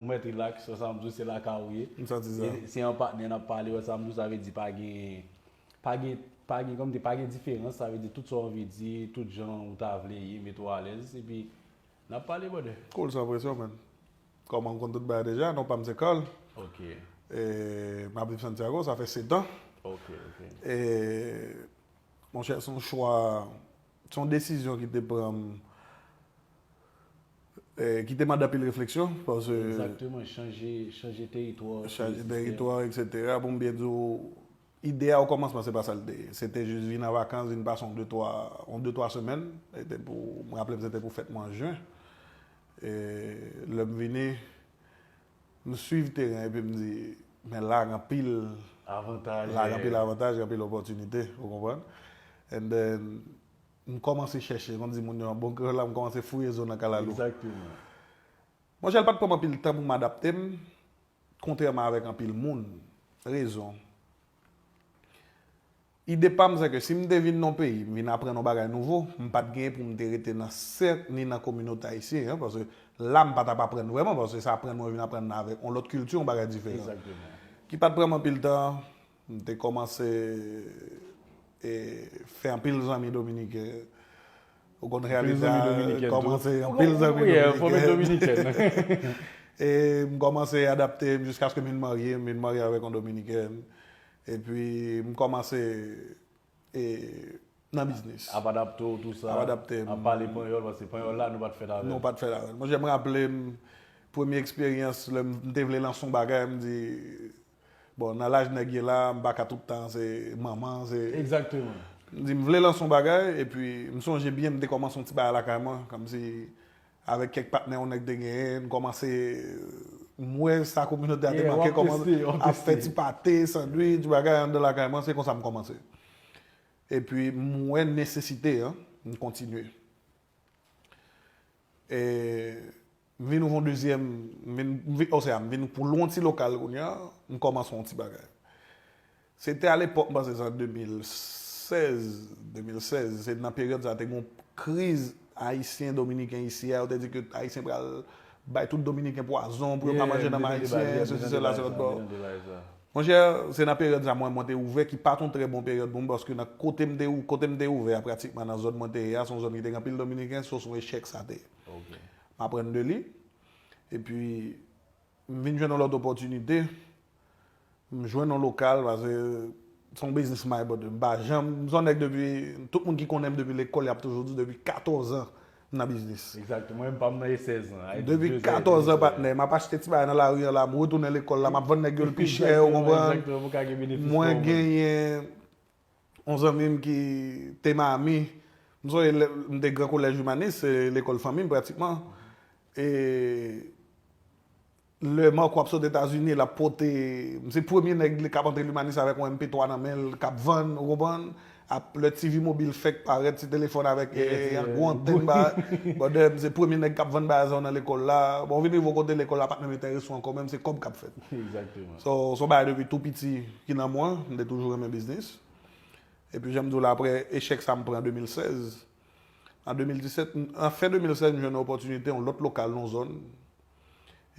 Ou mèt relax, wè sa m di w se lakay ou ye. M santi sa. E se an patnè n ap pale, wè sa m di w sa vle di pa gen, pa gen, pa gen kòmdi, pa gen diferans, sa vle di tout sa w anvi di, tout jan ou ta vle ye, mete w alèz, epi n ap pale brother. Cool san presyon man. Kòman ou konn tout bagay deja, non pa m se Carl. Ok. E m ap viv Santiago, sa fè setan. Ok, ok. E monchè se yon chwa. Se yon desizyon ki te pran m, ki te mande anpil refleksyon. Egzakteman, chanje teritwa. Chanje teritwa, eksetera. Pou m byen di w, ide a o kòmansman se pa sa l te ye. Se te jis vin an vakans, vin pase yon detwa, yon detwa semèn. Se te pou, m raple m se te pou fèt mwa jen. Lè m vini, M swiv teren epi m di, men la gen anpil avantaj, la gen anpil avantaj, gen anpil opòtinite, ou konprann? And then, m kòmanse chèche, kon di moun yo an bon kreyòl la, m kòmanse fouye zo nan kalalou. Exactement. Monchè, l pa t pran m anpil tan pou m adapte m, kontrèman avèk anpil moun. Rezon. Ide pa m se ke si m te vin nan yon peyi, m vin aprann yon bagay nouvo, m pa t genyen pou m te rete nan sèk ni nan kominote ayisyen an, paske la m pa t ap aprann vrèman, paske se aprann mwen vin aprann la avèk yon lòt kilti, yon bagay diferan. Ki pa t pran m anpil tan, m te kòmanse fè anpil zanmi dominiken. Ou konn reyalite a, m kòmanse anpil zanmi dominiken. E m kòmanse adapte m jiskaske m vin marye, m vin marye avèk yon dominikèn. Epi m kòmanse e nan biznis. Ap adapte w tou sa. Ap adapte m. Ap pale panyòl paske panyòl la nou pa t fèt avè l. Nou pa t fèt avè l. Monchè m raple m premye eksperyans lè m te vle lanse yon bagay m di bon nan laj nèg ye la m pa ka tout tan se manman se. Egzakteman. M di m vle lanse yon bagay epi m sonje byen m te kòmanse yon ti bagay lakay mwen kòmsi Avèk kèk patnè yon nèg te genyen, n kòmanse, m wè sa kominote a te manke kòman ap fè ti pate, sandwich, bagay anndan lakay mwen, se konsa m kòmanse. Epi m wè nesesite an, m kontinye. E m vin ouvè yon dezyèm, m vin, osea m vin pou lwen yon ti lokal kounye a, m kòmanse yon ti bagay. Se te alepòk m panse se an 2016, 2016, se nan peryòd sa a te gen yon kriz ayisyen dominiken isi a, yo te di ke ayisyen pral bay tout dominiken pwazon pou yo pa manje nanm ayisyen, sesi sela se lòt bò. Monchè, se nan peryòd sa mwen mwen te ouvè ki pat yon trè bon peryòd pou m paske nan kote m te kote m te ouvè a pratikman nan zòn mwen te ye a se yon zòn ki te gen anpil dominiken so se yon echèk sa te ye. M aprann de li epi M vin jwenn yon lòt opòtinite, m jwenn yon lokal pase se yon biznis m bay bòdre. M pa janm, m se yon nèg depi, tout moun ki konnen m depi lekòl y ap toujou di depi 14 an m nan biznis. Exactement, mwen menm pa m nan e 16 ans. Depi 14 ans patnè, m ap achte ti bagay nan lari an la, m retounen lekòl la, m ap vann nèg yo l pi chè ou konprann. Mwen genyen. Yon zanmi m ki te ma ami, m sonje lè m te gran kolèj imanis, se lekòl fanmi m pratikman. E lè Marco ap sot Etazini, l ap pote, m se premye nèg k ap antre Limanis avèk yon MP3 nan men l, k ap vann, ou konprann. Ap, lè TV mobil fèk parèt, ti telefòn avèk yon gwo antèn ba, brother, m se premye nèg k ap vann bagay sa yo nan lekòl la. Bon, m vin rive yon kote lekòl la pa t menm enterese w ankò menm, se kòb k ap fèt. So, s on bagay depi tou piti. ki nan mwen, m te toujou renmen biznis, epi jan m di w la aprè echèk sa m pran an 2016, an 2017, an fen 2016 m jwenn yon opòtinite yon lòt lokal nan yon zòn,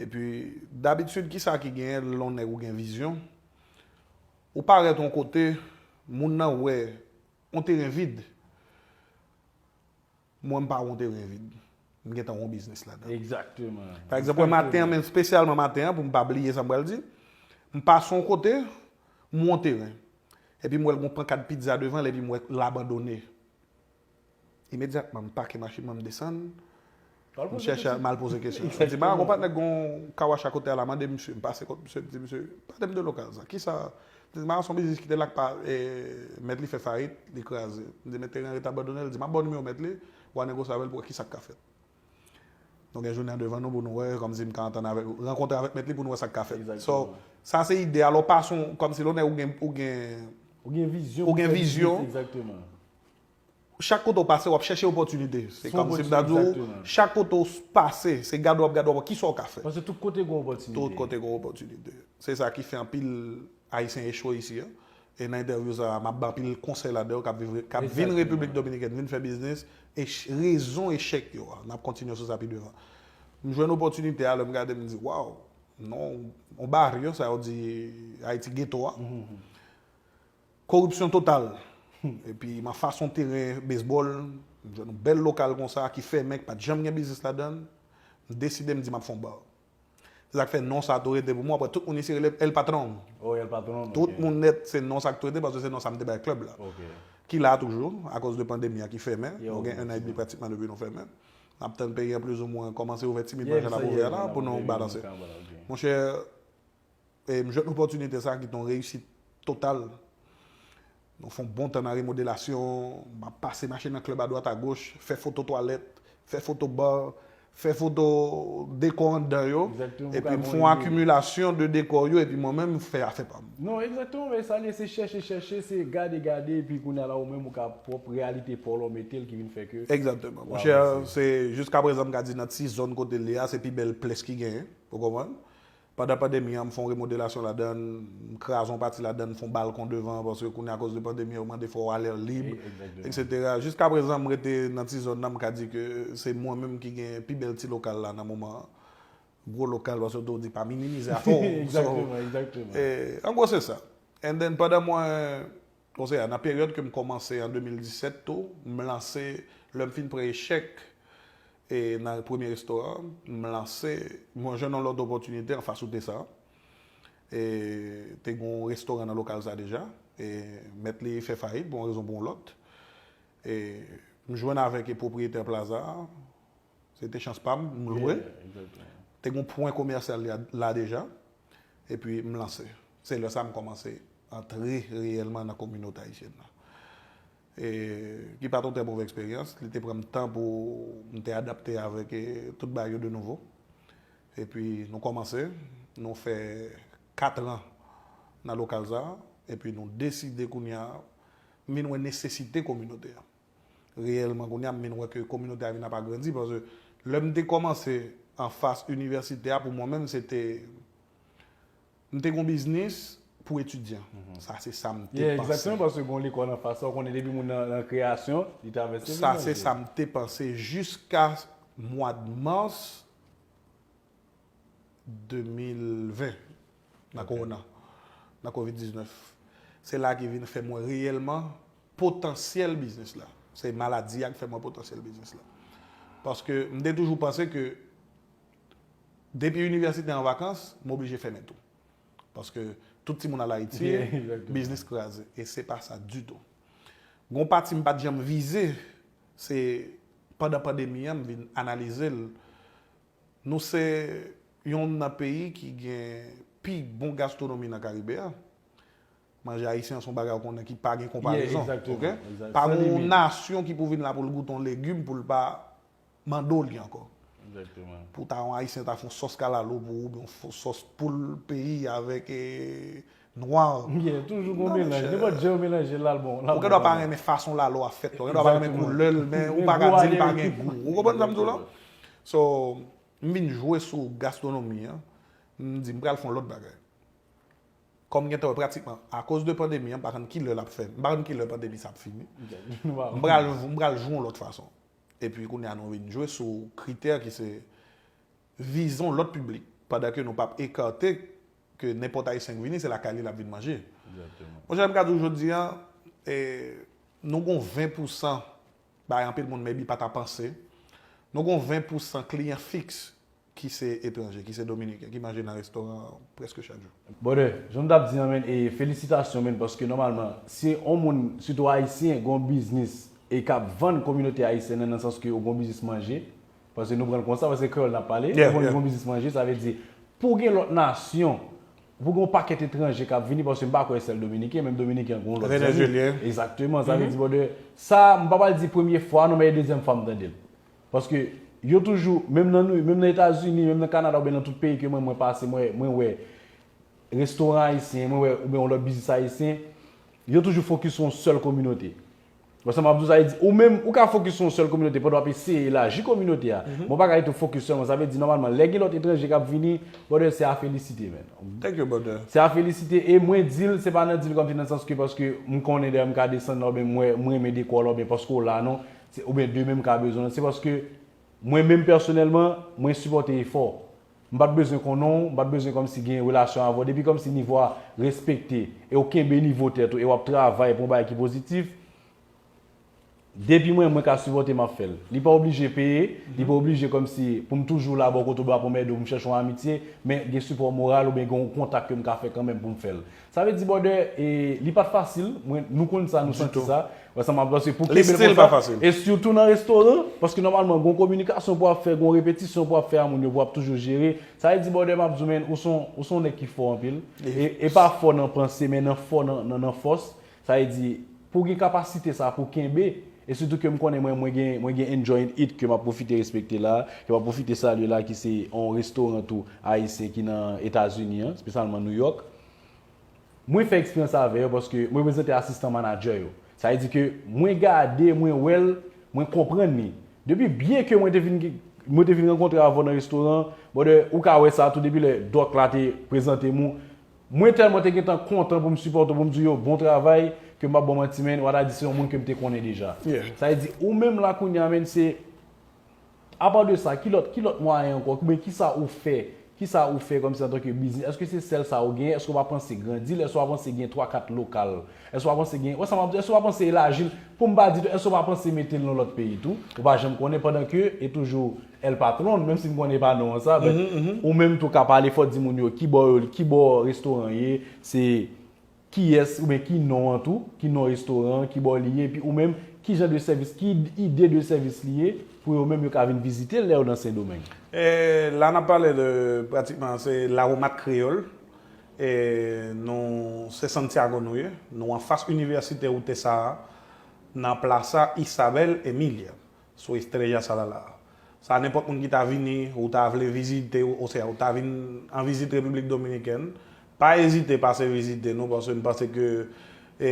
epi dabitid kisa ki genyen lè yon nèg ou gen vizyon, ou parèt yon kote moun nan wè yon teren vid, Mwen m pa wont e ryen vid. M gen tan yon biznis ladan. Egzakteman. Pa egzanp wè maten an men spesyalman maten an pou m pa bliye sa m pral di. M pase yon kote, m won teren. Epi m wè l gen yon pankad pizza devan l epi m wè l abandone. Imedyatman m pake machin mwen m desann. Ou al poze kesyon. M al poze kesyon. M di ba gonpa nèk gen yon kawash akote a la mande misye. M pase kot misye m di misye, pale m de lokal sa. Kisa Dizma son biznis ki te la k pa mèt li fè fayit, li kraze. Mdi mèt Terrence ret abandonel, di map baw nimewo mèt li, wa negosi avèl pou wè kisak ka fèt. Nou gen jounen an devan nou pou nou wè kòmsi mka antann avèk rankontre avèk mèt li pou nou wè sak ka fèt. So, sa se ide a, lè w pa son kòmsi lè w nèg ou gen ou gen Ou gen vizyon pou fè biznis, egzakteman. Chak kote ou pase, w ap chèche opòtinite. Se kòm si m ta di w, chak kote ou pase, se gade w ap gade w ap wè ki sa w ka fè. Paske tout kote gen opòtinite. Tout kote gen opòtinite. Se sa ki fè anpil Ayisyen echwe isi a. E nan entèvyou sa a, m ap bay anpil konsèy ladan yo k ap viv, k ap vin Repiblik Dominikèn, vin fè biznis, rezon echèk yo a. N ap kontinye sou sa pi devan. M jwenn opòtinite a, lè m gade m di, waw, non, yon baryè sa yo di Ayiti geto a. Koripsyon total! Epi ma fason teren bezbòl, m jwenn yon bèl lokal konsa ki fèmen, ki pa t janm gen biznis ladan l, m deside m di m ap fè yon bar. Se sa k fè non sa a tou rete pou mwen, aprè tout moun isi rele m El Patron. Oh El Patron, ok. Tout moun nèt, se non sa k tou rete paske se non sa m te bay club la. Ok. Ki la toujou, akoz de pandemi a ki fèmen. Yo, yo. Nou gen ennan edmi pratikman depi nou fèmen. N ap tann peyi an plizoumwen kòmanse ouvè timidman jan l ap ouvè a la pou nou balanse. Monchè, E m jwèt opòtinite sa a ki te yon reyisit total. Nou fè yon bon tan nan remodelasyon, m ap pase mache nan klèb adwat agoch, fè foto twalèt, fè foto bar, fè foto dekò anndan yo, epi m fè yon akimilasyon de dekò yo epi mwen menm m fè afè pa m. Non, egzakteman, men sa l ye se chèche chèche, se gade gade epi kounye a la ou menm ou ka pwòp reyalite pa w la w mete l ki vin fè ke Egzakteman. Mon chè, se jiskaprezan m ka di nan ti zòn kote l ye a se pi bèl plès ki genyen, ou konprann. Pandan pandemi an, m fè yon remodelasyon ladan l, m kraze yon pati ladan l, m fè yon balkon devan, paske kounye a akòz de pandemi an yo mande fè yon alèr lib, eksetera. Jiska prezan m rete nan ti zòn nan, m ka di ke se mwen menm ki gen pi bèl ti lokal la nan moman an. Gwo lokal paske tou di pa minimize afè w. So, an gwo se sa. And then pandan mwen. Konse a, nan peryòd ke m kòmanse an 2017 tou, m lanse, lè m fin pran echèk e nan premye restoran, m lanse, mwen jwenn yon lòt opòtinite anfas wout Nesa an. E te gen yon restoran nan lokal sa deja, e mèt li fè fayit pou yon rezon pou yon lòt. E m jwenn avèk e pwopriyetè Plaza a. Se te chans pam, m lwe. Te gen yon pwen komèsyal la deja. E pi m lanse. Se lè sa m kòmanse antre reyèlman nan kominote ayisyèn nan. E ki pa t yon trè move eksperyans. Li te pran m tan pou m te adapte avèk tout bagay yo de nouvo. E pi nou kòmanse. Nou fè katran nan lokal sa. E pi nou deside kounye a m vin wè nesesite kominote a. reyèlman kounye a m vin wè ke kominote a vin ap agrandi paske lè m te kòmanse anfas inivèsite a pou mwen menm se te m te gon biznis pou etidyan sa se sa m te panse. Egzakteman paske gon lekòl anfas la ou konnen depi moun nan nan kreyasyon li travèse li manje. Sa se sa m te panse jiska mwad mas 2020. nan kowona, nan covid 19. Se la ki vin fè m wè reyèlman potansyèl biznis la. Se maladi a ki fè m wè potansyèl biznis la. Paske m te toujou panse ke depi inivèsite an vakans, m oblije fèmen tou. Paske tout timoun al Ayiti, biznis kraze. E se pa sa ditou. Gon pati m pa t janm vize, se pandan pandemi an m vin analize l Nou se yonn nan peyi ki gen pi bon gastronomi nan Karibe a. Manje ayisyen an se yon bagay ou konnen ki pa gen konparezon. Pa gen yon nasyon ki pou vin la pou l goute yon legim pou l pa mande w li ankò. Pou ta yon ayisyen ta fè yon sòs kalalou pou ou oubyen yon sòs poul peyi avèk Nwa an. Yeah, toujou gon melanj. Nenpòt jan yo melanje l al bon. Ou gen dwa pa renmen fason lalo a fèt la, ou gen dwa pa renmen koulè l men ou pa ka di li pa gen gou. Ou konprann sa m di w la? So, m vin jwe sou gastronomi an, m di m pral fè yon lòt bagay. Kòm m gentan wè pratikman akoz de pandemi an m pa konn kilè l ap fè, m pa konn kilè pandemi sa ap fini, m pral jwe yon lòt fason. Epi kounye a nou vin jwe sou kritè ki se vizon lòt piblik pandan ke nou pap ekate ke nenpòt Ayisyen k vini se lakay li lap vin manje. Monchè m ka di w jodi an nou gon 20 pousan bagay anpil moun maybe pa ta panse, nou gon 20 pousan kliyan fiks ki se etranje, ki se dominiken ki manje nan restoran an prèske chak jou. Brother, jan m tap di an men e felisitasyon men paske nòmalman si on moun sitou Ayisyen gon biznis e kap vann kominote Ayisyen nan nan sans ke yo gon biznis manje Paske nou pran l konsa, paske se kreyòl n ap pale. Lè ou gen biznis manje, sa vle di pou w gen lòt nasyon, pou w gen yon pakèt etranje k ap vini, paske m pa kwè sèl dominiken, menm dominiken gen yon lòt zanmi. Egzakteman. Sa vle di brother, sa a m pa pral di premye fwa non men e dezyèm fwa m tande l. Paske yo toujou, menm nan Nouyòk, menm nan Etazini, menm nan Kanada oubyen nan tout peyi ke mwen mwen pase mwen wè restoran ayisyen, mwen wè oubyen yon lòt biznis ayisyen, yo toujou fokis sou yon sèl kominote. Wè sa map di w sa vle di ou menm ou ka fokis sou yon sèl kominote pandan wap eseye elaji kominote a men ou pa ka rete ou fokis sèlman sa vle di nòmalman lè gen lòt etranje kap vini brother se a felisite man Thank you brother. se a felisite e mwen di l se pa nan di l kòmsi nan sans ke paske m konnen dèyè m ka desann la oubyen m wè m renmen dekò w la oubyen paske w la non se oubyen demen m ka bezwen l se paske mwen menm pèsonèlman mwen sipòte efò w M pat bezwen konnen w, m pat bezwen kòmsi gen relasyon avè w, depi kòmsi nivo a respekte e w kenbe nivo tèt ou e w ap travay pou yon bagay ki pozitif, depi mwen mwen ka sipòte m ap fè l. Li pa oblije peye, li pa oblije kòmsi pou m toujou la bò kote w, bra pou m ede w, pou m chèche yon amitye, men gen sipò moral oubyen gen yon kontak ke m ka fè kanmenm pou m fè l. Sa vle di bòdè e li pat fasil mwen nou konn sa nou santi sa wè sa map paske pou kenbe l konsa e sitou nan restoran paske nòmalman gon kominikasyon pou ap fè gon repetisyon pou ap fè a moun yo pou ap toujou jere sa vle di bòdè map di w men ou son ou son nèg ki fò anpil e pa fò nan panse men nan fò nan nan fòs Sa vle di, pou gen kapasite sa pou kenbe, e sitou ke m konnen mwen, mwen gen, mwen gen Enjoy and Eat ke m ap pwofite respekte la, ke m ap pwofite salye la ki se yon restoran tou ayisyen ki nan Etazini an, spesyalman New York. Mwen fè eksperyans sa avè yo paske mwen reprezante asistan manadjè yo. Sa vle di ke mwen gade, mwen wè l, mwen konprann li. Depi byen ke mwen te vin gen, mwen te vin rankontre avè w nan restoran, brother, ou ka wè sa tou depi lè Doc la te prezante m ou, Mwen tèlman te gentan kontan pou m sipòte w pou m di w yo bon travay ke m pa ba w manti menn wa ta di se yon moun ke m te konnen deja. Sa vle di ou menm la kounye a menn se Apa de sa ki lòt ki lòt mwayen ankò oubyen ki sa ou fè ki sa ou fè kòmsi antanke biznis èske se sèl sa ou genyen èske w pa panse grandi l èske w pa panse gen twa kat lokal Èske w pa panse gen, wè sa m ap di w, èske w pa panse elaji l, pou m pa di tou, èske w pa panse mete l nan lòt peyi tou? Ou pa janm konnen pandan ke e toujou El Patron, menm si m konnen e pa non an sa, but ou menm tou ka pale fò di moun yo ki bò yo, ki bò restoran ye, se kiyès oubyen ki non an tou, ki non restoran an, ki bò li ye, epi ou menm ki jan de sèvis, ki ide de sèvis li ye pou yo menm yo ka vin vizite l lè yo nan Sendomeng. La n ap pale de pratikman se Lawomat Kreyòl. E nou se Santiago nou ye. Nou anfas Universite UTESA a, nan Plaza Isabel Emilia, sou Estrella Sadala a. Sa nenpòt moun ki ta vini ou ta vle vizite osea ou ta vin an vizit Repiblik Dominikèn, pa ezite pase vizite nou paske n panse ke e.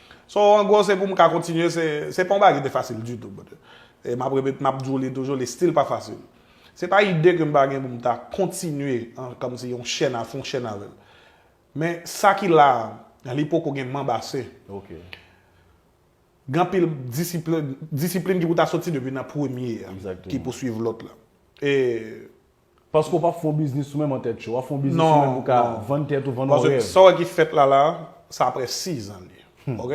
So an gwo se pou m ka kontinye se pa yon bagay ki te fasil ditou brother. E m ap repete m ap di w li toujou li still pa fasil. Se pa ide ke m pa gen pou m ta kontinye an kòm si yon chèn a fon chèn avè l. Men sa ki la a li poko gen manb ase. Gen anpil disiplin ki pou ta soti depi nan premye a ki pou swiv lòt la. E. Paske w pap fè yon biznis ou menm an tèt cho. Wap fè yon biznis ou menm pou ka vann tèt ou, vann orè. Paske sa w wè ki fèt la la, sa aprè 6 an li. Ok?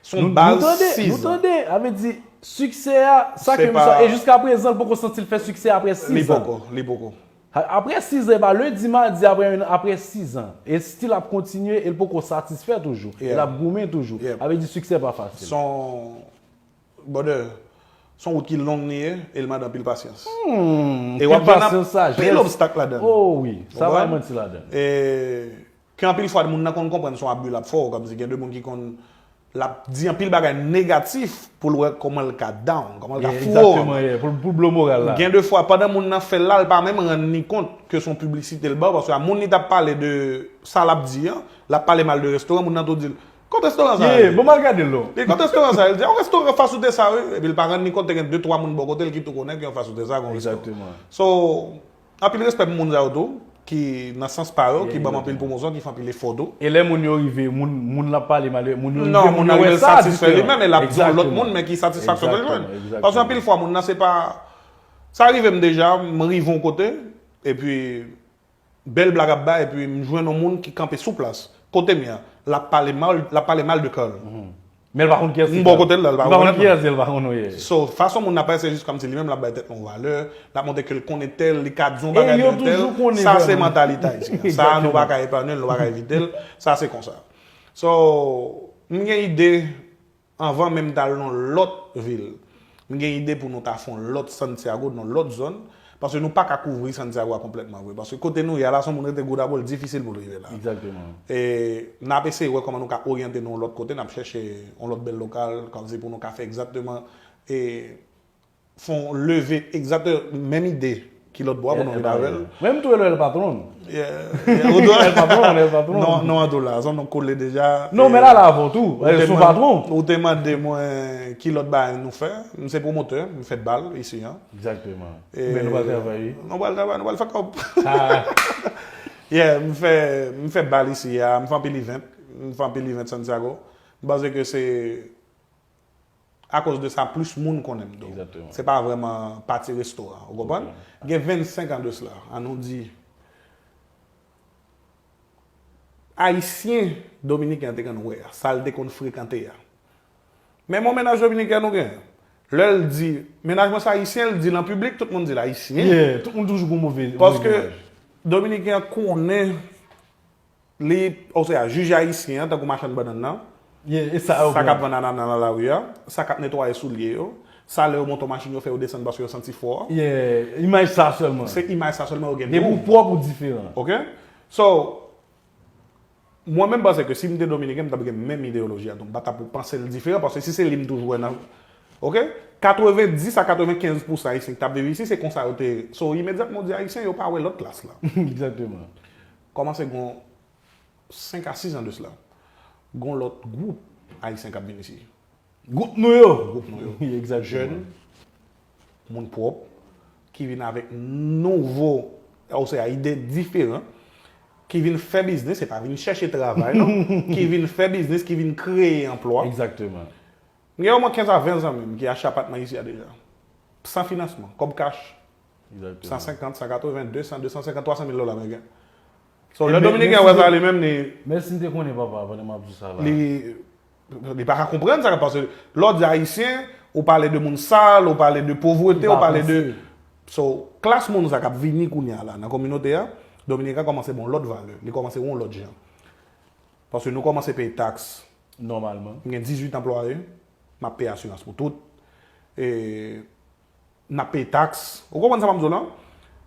Se yon baz 6 an. Nou tande, nou tande. A vle di, siksè a, sa ke misye a, e jiska prezan l poko santi l fè siksè aprè 6 an. Li poko, li poko. Aprè 6 an, e pa lendi, madi, aprè 1 an, aprè 6 an. E still ap kontinye, e l poko satisfè toujou. E l ap goumen toujou. A vle di siksè pa fasil. Son. Brother, son wout ki long li ye, e li mande anpil pasyans. E wap jwenn anpil obstak ladan li. Oh wi, sa pa gen manti ladan li. E ke anpil fwa moun nan konn konprann son abus lap fè w, kòmsi gen de moun ki konn lap di anpil bagay negatif pou l wè kòman l ka down, kòman l ka fou ou. Exactement yeah, pou l blo moral la. Gen de fwa pandan moun nan fè l la, l pa menm rann li kont ke son piblisite l ba w, paske a moun li tap pale de sa lap di an, lap pale mal de restoran, moun nan tou di l, Kot restoran sa rele? Ye, bon mal gade lo. Li, kot restoran sa rele? Li di, yon restoran fas wout esa wi. Epi li pa rann li kont te gen 2 3 moun bò kote li ki tou konnen ke yon fas wout esa gon restoran. Exactement. So, anpil respè pou moun sa yo tou, ki nan sans pa yo, ki banm anpil pwomosyon, ki fè anpil efò tou. E lè moun yo rive, moun, moun lan pale mal, moun yo rive, moun yo wè sa diferan. Non, moun nan rive l satisfè li menm e lap di yon lòt moun men ki satisfaksyon ke l jwenn. Exactement, exactement. Paske anpil fwa moun nan se pa, sa rive m deja, m rive yon kote, epi Bel blag ap bay epi m jwenn yon moun ki kanpe sou plas kotem ya lap pale mal lap pale mal de Carl Men l pa konn kiyès ki m bò Carl. kotel la l pa Li pa konn rekonèt kiyès li, l pa konn wi. So fason moun ap pale se jis kòmsi li menm lap bay tèt li yon valè, lap montre ke l konnen tèl, li ka di yon E bagay yo de entèl, toujou konnen sa se vrèman. mantalite Ayisyen. Sa nou pa Exactement. ka epanui l, nou pa ka evite l, sa se konsa. So m gen ide Anvan menm tal nan lòt vil. M gen ide pou nou ta fon lòt Santiago nan lòt zòn, paske nou paka kouvri Santiago a konplètman vre, paske kote nou ye a la si yon moun rete Goudabou l difisil pou l rive la. E nap eseye wè kòman nou ka oryante nou yon lòt kote, nap chèche yon lòt bèl lokal, kòmsi pou nou ka fè egzatteman e fon leve egzate menm ide ki lòt bò a pou nou vin avèl. Mwen m tou el el patron. Yeah ou do el patron el patron. Non non ado la zon nou kole deja. Non men la la avon tou el sou patron. Ou te mande mwen ki lòt bagay nou fè m se pwomotè m fè bal isi an. Egzakteman men nou pral travay. Nou pral travay nou pral fè kòb. Yeah m fè m fè bal isi a m fè anpil event m fè anpil event santiago m panse ke se. A koz de sa plis moun konnen m do. Se pa vreman pati resto a. Ou konprann? Gen 25 an de sla, an nou di, Ayisyen Dominiken an te konn wè a, sa l te konn frekante a. Men bon mennaj Dominiken nou gen. Lè l di, mennaj mwen se Ayisyen, l di l an piblik, tout moun di l Ayisyen. Paske Dominiken an konnen Li, osea, jij ayisyen an, tankou machann bannann nan, sa k ap vann anana nan lari a, sa k ap netwaye soulye yo, sa lè yo monte yon machin yo fè yo desann paske yo santi fò. Yeah, imaj sa sèlman. Se imaj sa sèlman yo gen. Gen pou pwòp ou diferan. Ok. So, mwen menm panse ke si m te Dominiken, m t ap gen menm ideyoloji a tou. M pa t ap panse l diferan paske si se li m toujou wè nan. Ok. 90 a 95 pousan ayisyen ki t ap viv isi se konsa yo te. So, imedyatman ou di ayisyen, yo pa wè lòt klas la. Exactement. Kòmanse gon 5 a 6 an de sla, gon lòt gwoup Ayisyen k ap vin isi. Gwoup nou yo! Gwoup nou yo. Jèn, moun pwòp, ki vin avèk nouvo, osea ide diferan, ki vin fè biznis, se pa vin chèche travay non, ki vin fè biznis, ki vin kreye anplwa. Egzakteman. M gen omwen 15 a 20 zanmi m ki achte apatman isi a deja. San finansman, kòb kach, 150, 180, 200, 250, 300 mil dola ameriken. So, lè Dominiken an wè sa li menm li. Men si m te konnen papa, pandan m ap di sa la. Li, li pa ka konprann sa, paske lè w di Ayisyen, ou pale de moun sal, ou pale de povrete, ou pale de. So, klas moun sa k ap vini kounye a la nan kominote a, Dominiken an kòmanse ba w lòt valè, li kòmanse wè w lòt jan. Paske nou kòmanse peye taks. Nòmalman. M gen 18 anplwaye, m ap peye asirans pou tout. E. N ap peye taks. Ou konprann sa m ap di w lan?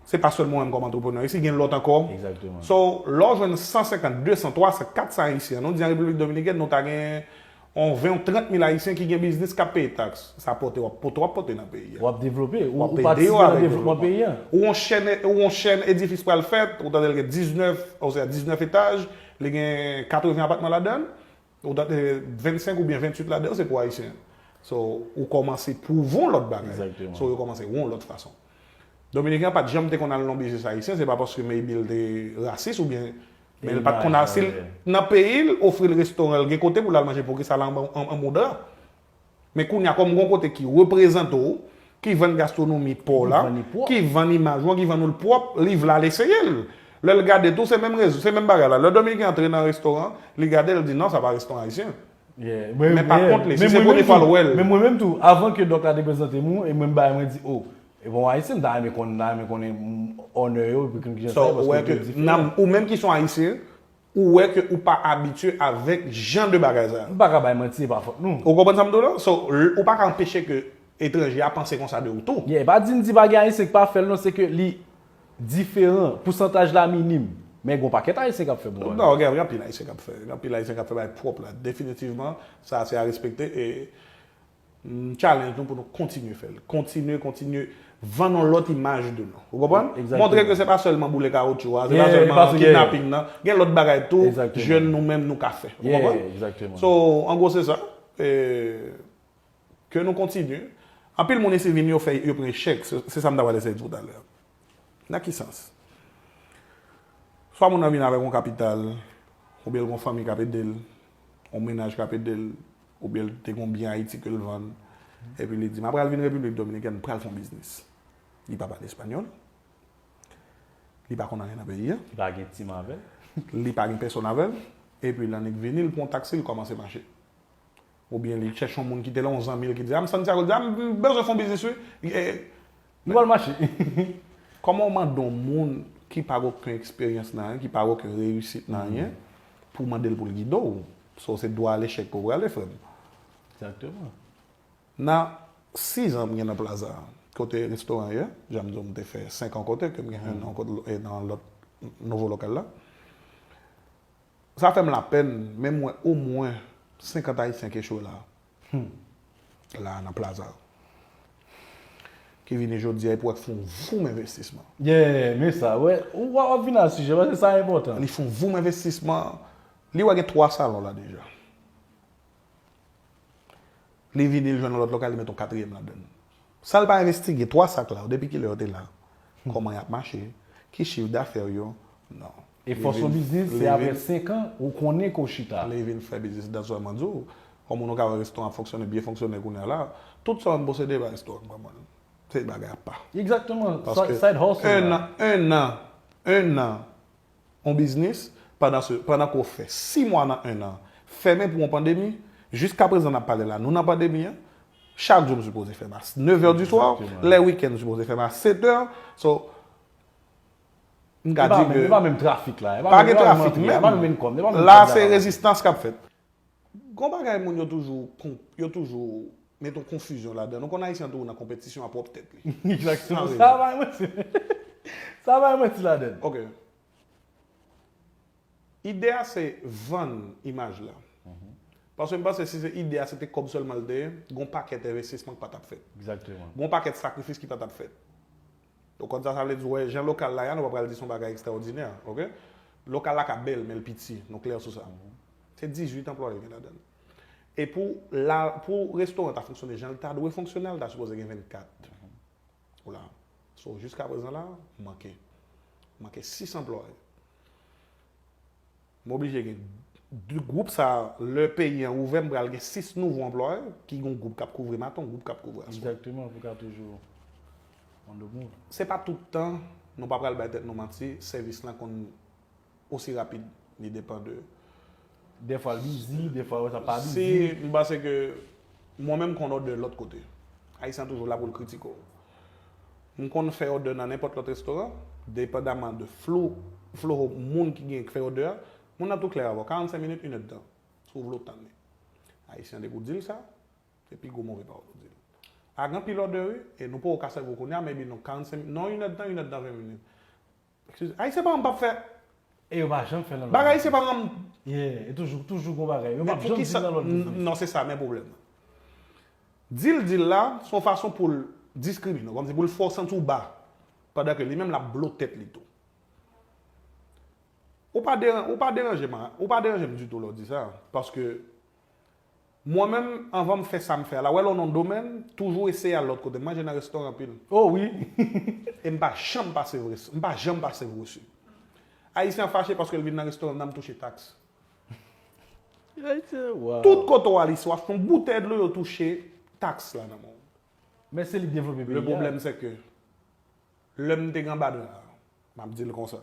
Se pa sèlman ou menm kòm antreprenè isi, gen lòt ankò. Egzakteman. So, lè w jwenn 150, 200, 300, 400 Ayisyen, an nou di an Repiblik Dominikèn nou ta gen yon 20 ou 30 mil Ayisyen ki gen biznis k ap peye taks. Sa pote w ap pote w ap pote nan peyi a. W ap devlope. Ou ap ede yo avèk devlopman peyi a. Ou yon chèn ou yon chèn edifis pral fèt, ou tande l gen 19 osea 19 etaj, li gen 80 apatman ladan l, Ou ta te 25 oubyen 28 ladan yo se pou Ayisyen. So, ou kòmanse pwouve yon lòt bagay. Exactement. So, yo kòmanse yon lòt fason. Dominiken an pa t janm te konn al nan biznis Ayisyen, se pa paske maybe l te rasis oubyen Men l pa t konn al si l nan peyi l ofri l restoran l gen kote pou l al manje poukisa l an an an moudra. Men kounya kòm gon kote ki reprezante w, ki vann gastronomi pa w la, ki vann imaj ou an, ki vann ou l pwòp, li vle al eseye l. Lè l gade tou se menm rezon, se menm bagay la. Lè Dominiken antre nan restoran, li gade l, li di non sa pa restoran ayisyen. Men pa kont li, si se premye fwa l wè l. Men mwen menm tou, avan ke Dòk la te prezante m ou, e mwen m bay, mwen di o, e bon ayisyen m ta renmen konn, m ta renmen konnen onè yo, epi konn kijan sa ye paske yo tout diferan. Ou menm ki s on ayisyen, Ou wè ke ou pa abitye avèk jan de bagay sa. Nou pa ka bay manti e pa fòt nou. Ou konprann sa m di w lan? So, ou pa ka anpeche ke etranje a panse konsa de ou tou. Yeah, e pa di n di pa gen Ayisyen k pa fè l non, se ke li diferan, pousantaj la minim. Men gen w pakèt Ayisyen k ap fè bon bagay. Non, gen anpil Ayisyen k ap fè. Gen anpil Ayisyen k ap fè bagay pwòp la. Definitivman, sa a se a respekte e. M challenge nou pou nou kontinye fè l. Kontinye, kontinye vann yon lòt imaj de nou. Ou konprann? Montre ke se pa sèlman boule kawotchou a, se pa sèlman kidnaping nan. Gen lòt bagay tou jèn nou menm nou ka fè. Ou konprann? So, an gwo se sa. Ke nou kontinye. Anpil moun isi vini yo fè, yo pran echèk. Se sa m ta pral eseye di w talè. Nan ki sans? Swa moun nan vini avèk yon kapital, oubyen l gen yon fanmi k ap ede l, yon mennaj k ap ede l. Oubyen li te gen yon byen Ayiti ke li vann. Epi li di, m apral vin Repiblik Dominikèn, m pral fè yon biznis. Li pa pale espanyòl. Li pa konn anyen nan peyi a. Li pa gen tim avè l. Li pa gen pèsonn avè l. Epi l annik vini, l pran yon taksi, l kòmanse mache. Oubyen li chèche yon moun ki te la, yon zanmi l ki di, a m Santyago, li di, a m bezwen fè yon biznis wi. Nou pral mache. Kòman ou mande yon moun ki pa gen oken eksperyans nan anyen, ki pa gen oken reyisit nan anyen, pou w mande l pou l gide w? So se dwa alechèk ke w prale frè m. Exactement. Nan 6 ans m gen nan Plaza a, kote restoran an ye, jan m di w m te fè 5 ans kote, ke m gen 1 ans nan lòt nouvo lokal la, sa fè m lapèn, men m wè omwen 50 Ayisyen ki echwe la. Humm la nan plaza ki vini jodia epi wap fon voum envestisman. Yeah men sa wè ou wap vini a sijè paske sa enpòtan. Li fon voum envestisman li wè gen 3 salon la deja li vini li jwenn yon lòt lokal li met yon katriyèm ladann. San l pa envestige 3 sak la yo, depi kilè yo te la, kòman y ap mache, ki chif dafè yo, non. E fòs yon biznis, se aprè 5 an, ou konnen ke w chita. Li vin fè biznis dan swa mwen di w, kòm ou nou ka wè restoran ap fonksyone, byen fonksyone kounye a la, tout sa m posede pa restoran m pa mwen l. Se bagay apa. Egzakteman, side hustle la. 1 an, 1 an, 1 an. Yon biznis, pandan se, pandan ke w fè 6 mwa nan 1 an fèmen pou yon pandemi, jiskaprezan nap pale la nou nan pandemi an, chak jou m sipoze fèm a 9 è di swa, lè wikenn m sipoze fèm a 7 è, so, m ka di ke, pa gen trafik menm, la se rezistans kap fèt. Gon bagay moun yo toujou yo toujou met yon konfizyon ladann. Ou konn Ayisyen an toujou nan konpetisyon a pwòp tèt li. San rezon. Sa pa yon manti. Sa pa yon manti ladann. Ok. Ide a se vann imaj la. Paske m panse si se ide a se te kòb sèlman l te ye, gon pakèt envestisman k pa t ap fèt. Gon pakèt sakrifis ki pa t ap fèt. Ou konn sa sa vle di, wè jan lokal la ya nou pa pral di son bagay ekstraòdinè ok. Lokal la ka bèl menl piti, nou klè sou sa. Se 18 anplwaye li gen ladann. E pou la pou restoran ta fonksyone janl ta dwe fonksyone a li ta sipoze gen 24 pou la. So jiskaprezan la manke manke 6 anplwaye. M oblije gen 2 gwoup sa lè peyi an ouvè m pral gen 6 nouvo anplwaye ki gon gwoup kap kouvri maten yon gwoup kap kouvri aswè. Exactement pou ka toujou on the move. Se pa tout tan, nou pa pral bay tèt nou manti, sèvis lan konn osi rapid li depan de. Dèfwa l bizi, dèfwa ou wè sa pa bizi. Si, m panse ke mwen menm m konn òdè lòt kote. Ayisyen an toujou la pou l kritike w. M konn fè òdè nan nenpòt lòt restoran, depandaman de flou, flow, moun ki gen k fè òdè a. Moun nan tou klè avè w, 45 minit, inèd tan, si w vle w tann li. Ayisyen an te ko di l sa, se pi gwo move pawòl ou di l. Pa gen anpil òdè wi, e nou poko ka sèvi w kounye a, maybe non 45 minit, non inèd tan, inèd tan 20 minit. Excuse Ayisyen pa m pap fè. E yo pa janm fè nan lòt. Bagay Ayisyen pa janm. Yeah e toujou toujou gon bagay. Yo pap janm di nan lòt biznis. Non se sa men pwoblèm nan. Di l di l la se yon fason pou l diskrimine w. Kòmsi pou l fè w santi w ba. Pandan ke li menm l ap blo tèt li tou. Ou pa deran ou pa deranje m a ou pa deranje m ditou lè w di sa. Paske. Mwen menm anvan m fè sa m fè a la, wè lè w nan yon domèn, m toujou eseye al lòt kote. M manje nan restoran anpil. Oh wi! E m pa janm pase vres, m pa janm pase gwo su. Ayisyen an fache paske l vin nan restoran m nan m touche taks. Tout kote w al isi w achte yon boutèy dlo yo touche taks la nan men w. Men se li k devlope peyi a. Le pwoblèm se ke. Lè m te gen anba dra a, m ap di l konsa,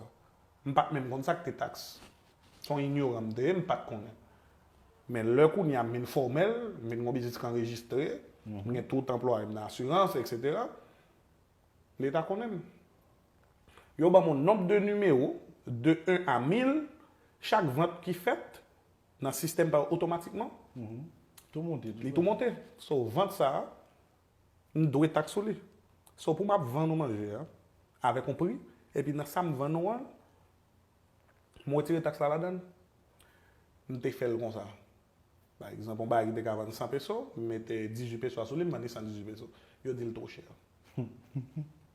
m pa t menm konn sa k te taks. Se yon inyoran m te ye, m pa t konnen. Men lè kounye a m vin fòmèl, m vin gen yon biznis ki anrejistre, m gen tout anplwaye m nan asirans, eksetera, Leta konnen m. Yo ban m yon nonb de nimewo, de 1 a 1000, chak vant ki fèt nan sistèm pa yo otomatikman, li tou monte. So vant sa a, M dwe taks sou li. So pou m ap vann ou manje an avèk yon pri, epi nan sa m vann ou an, m wetire taks la ladan l. M te fè l konsa. Pa egzanp, yon bagay ki te ka vann 100 peso, m mete 18 peso a sou li, m vann li 118 peso. Yo di l two chè.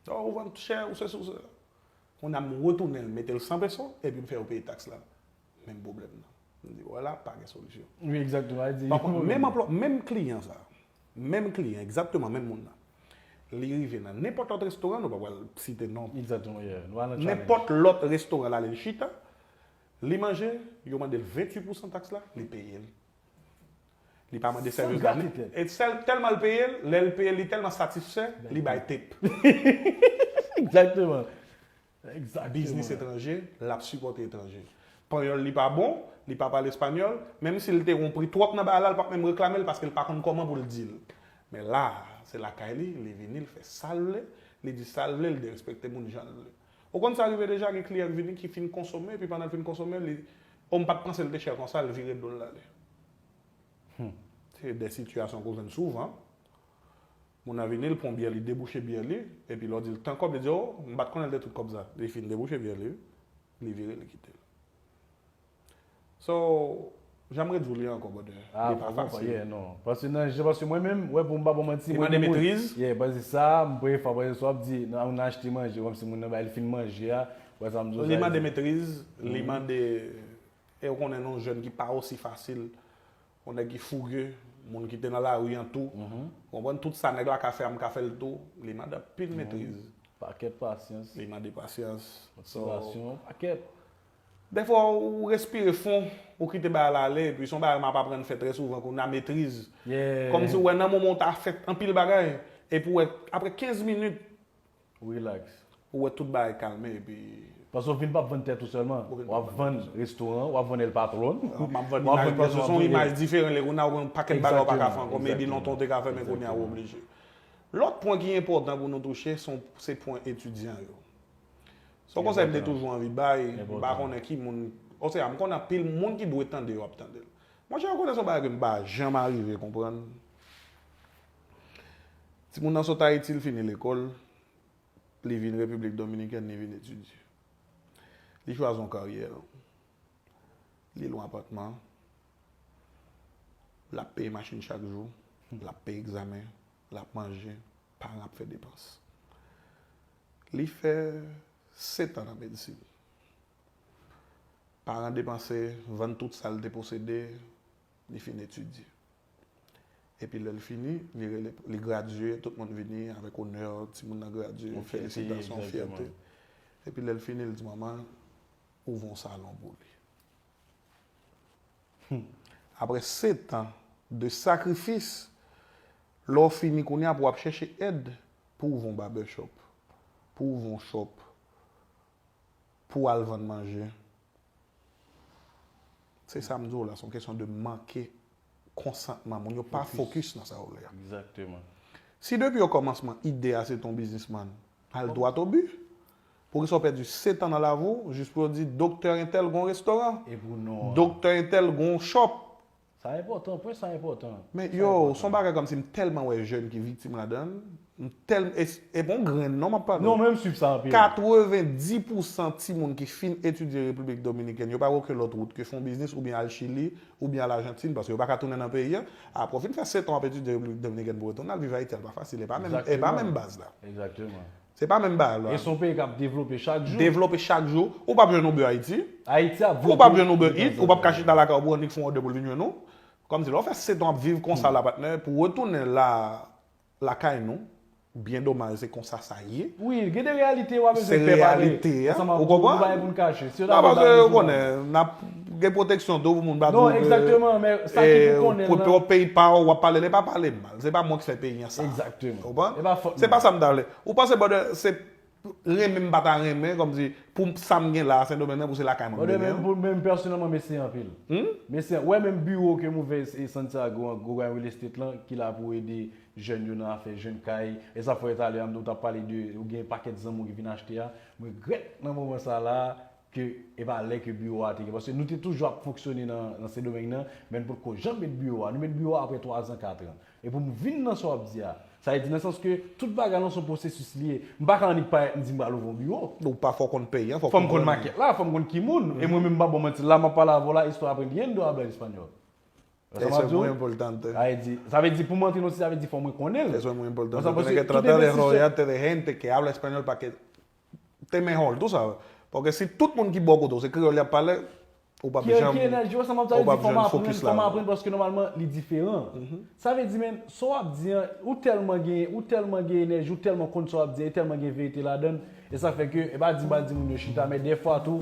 O, ou vann chè, ou sesi, ou sela. Kounye a m retounen l, mete l 100 peso, epi m fè yo peye taks la. Menm pwoblèm nan. M di, wè la, pa gen solisyon. Wi, egzakteman. Sa vle di, yon pwoblèm. Menm anplwa, menm kliyan sa a, menm kliyan, egzakteman menm moun nan, li rive nan nenpòt lòt restoran, nou pa pral site non. Egzakteman, ye. Nou al nan tchalènj. Nenpòt lòt restoran l ale l chita, li manje, yo mande l 28 pousan taks la, li peye l. Li pa mande sèvis la. San grate tèt. E sèl, tèlman l peye l, lè l peye l, li tèlman satisfè, li bay tip. Egzakteman. biznis etranje, l ap sipòte etranje. Panyòl li pa bon, li pa pale espanyòl, menm si l te ron pri twòp nan bagay la, l pap menm reklame l paske l pa konn kòman pou l di l. Men la a, se lakay li, li vini, l fè sa l vle, li di sa l vle, l derespekte moun jan l vle. Ou konn sa rive deja, gen kliyan k vini ki fin konsome, epi pandan l fin konsome, li, o m pa t panse l te chè konsa, l vire do l l ale. Hum! Se de sitiyasyon ke w jwenn souvan. Moun nan vini, li pran byè li debouche byè li, epi lè w di l tan kòb li di o, m pa t konnen l te tout kòb sa. Li fin debouche byè li, li vire li kite l. So, jan m ret di w li ankò brother, li pa fasil. Paske nan jan, paske mwen menm, wè pou m pa ba w manti, mwen gen moun, yeah, paske sa a, m premye fwa, paske sa w ap di, nan moun nan achte manje, kòmsi moun nan bay, li fin manje a, wè sa m di w sa. Li mande metriz, li mande, e ou konnen nou jèn ki pa osi fasil Yon nèg ki fouge, moun ki te nan lari an tou. Ou konprann? Tout sa nèg la ka fè a m ka fè l tou. Li mande anpil metriz. Pakèt pasyans. Li mande pasyans. Motivasyon yon pakèt. Dèfwa ou respire fon, ou kite bagay la ale. Epi se yon bagay m ap aprann fè trè souvan kounye a, metriz. Kòmsi ou wè nan moman ou ta fè anpil bagay, epi ou wè aprè 15 minit, relax. Ou wè tout bagay kalme epi. Paske w vin pap vann tèt ou sèlman. Wap vann restoran, wap vann El Patron. Map vann imaj mwen, se son imaj diferan lè kounya ou gen yon pakèt bagay ou pa ka fè ankò, maybe lontan ou te ka fè men kounya ou oblije. Lòt pwen ki enpòtan pou nou touche se pwen etidyan yo. Son konsèy m te toujou anvi bay, m pa konnen ki moun, osea m konnen anpil moun ki dwe tande yo ap tande l. Monchè yo konnen son bagay ke m pa janm arive konprann. Timoun nan sot Ayiti, li fini lekòl, li vin Repiblik Dominikèn, li vin etidye. Li chwazi yon karyè, li lwe yon apatman, l ap peye machin chak jou, l ap peye egzamen, l ap manje, paran l ap fè depans. Li fè setan nan medsin. Paran depanse, vann tout sa l te posede, li fin etidye. Epi lè l fini, li rele, li gradye, tout moun vini avèk onè, timoun nan gradye, felisitasyon, fyète. Epi lè l fini, l di manman l, ouvè yon salon pou li. Aprè setan de sakrifis, lè w fini kounye a pou w ap chèche èd pou w ouvè yon babèchòp, pou w ouvè yon chòp, pou al vann manje. Se sa m di w la, se yon kesyon de manke konsantman moun yo pa fokis nan sa yo vle a. Si depi okòmansman ide a se te yon biznisman, al dwat o bi. Poukisa w pèdi setan nan lavi w jis pou yo di doktè entèl gen yon restoran, doktè entèl gen yon shop, Sa enpòtan, pwen sa enpòtan, Men sa yow, son enpòtan. bagay kòmsi m tèlman wè jèn ki viktim ladan l, m tèlmn e e p on grenn non m ap pale Non w, men m swiv sa anpil. 90 pou san timoun ki fin etidye Repiblik Dominikèn yo pa gen oken lòt wout ke fon biznis oubyen al Chili oubyen al Ajantin paske yo pa ka tounen nan peyi an, apre w fin fè setan w ap etidye Repiblik Dominikèn pou w retounen al viv Ayiti a l pa fasil e pa menm e pa Exactement, menm baz la. exactement. Se pa menm bagay lwa. E se yon peyi k ap devlope chak jou. Devlope chak jou. Ou p ap jwenn Uber Haiti. Ayiti ap vlope. Ou p ap jwenn Uber Eats. Ou p ap ka chita lakay ou pou yon nèg fè yon òdè pou l vin jwenn ou. Kòmsi lè w fè setan w ap viv konsa la patnè, pou w retounen la lakay nou, byen domaj se konsa sa ye. Wi, gen de reyalite wa bezwen pè pale ansanm avèk yo. Gen de bagay pou n kache. Si yo ta vle bay nou jouman. Nan pase, ou konnen, n ap gen pwoteksyon tou pou moun pa di w ke. Non, egzakteman, men sa ki pou konnen l lan. Pwòp peyi pa w, w ap pale, lè pa pale m. Se pa mwen ki fè peyi an sa. Exactement. Ou konprann? E pa fòt mwen. Se pa sa m ta vle. Ou panse bòdè se renmen m pa ta renmen kòm si pou sa m gen la a Sendomeng nan pou se lakay mwen m te gen. Bòdè pou menm pèsonèlman mesi anpil. Hum? Mesi an. Ou wè menm biwo ke m ouvè e Santiago an gwo bay real estate lan ki la pou ede jèn yo nan afè jwenn kay. E sa fò e talè an m di w ta pale de ou gen pakèt zanmi w ki vin achte a. M regrèt nan moman sa la a ke e pa lè ke biwo a te gen, paske nou te toujou ap fonksyone nan Sendomeng nan, men nou potko janm met biwo a, nou met biwo a aprè twazan, katran. E pou m vin nan sa w ap di a, sa vle di nan sans ke tout bagay lan se yon pwosesis li ye. M pa ka annik parèt m di m pral ouvri yon biwo. Non w pa fò w konn peyi an, fò w konprann li. Fò m konn makèt la, fò m konn ki moun. E mwen menm m pa ba w manti, la m ap pale avè w la, estoy aprendiendo hablar español? Wè sa m ap di w? Eso es muy importante. Sa vle di pou m antre nan yon site, sa vle di fò mwen konnen l. Eso es muy importante, tiene que tratar de rodearte de gente que habla español pa ke Te men hall tou sa. Paske si tout moun ki bò kote w se kreyòl y ap pale, ou p ap janm Kiyè nan jwè sa map sa vle di fò m aprann fò m aprann paske nòmalman li diferan. Sa vle di men sa w ap di an ou tèlman gen ou tèlman gen enèji ou tèlman konn sa w ap di an e tèlman gen verite ladan l e sa fè ke e pa di m pa di moun yo chita men dèfwa tou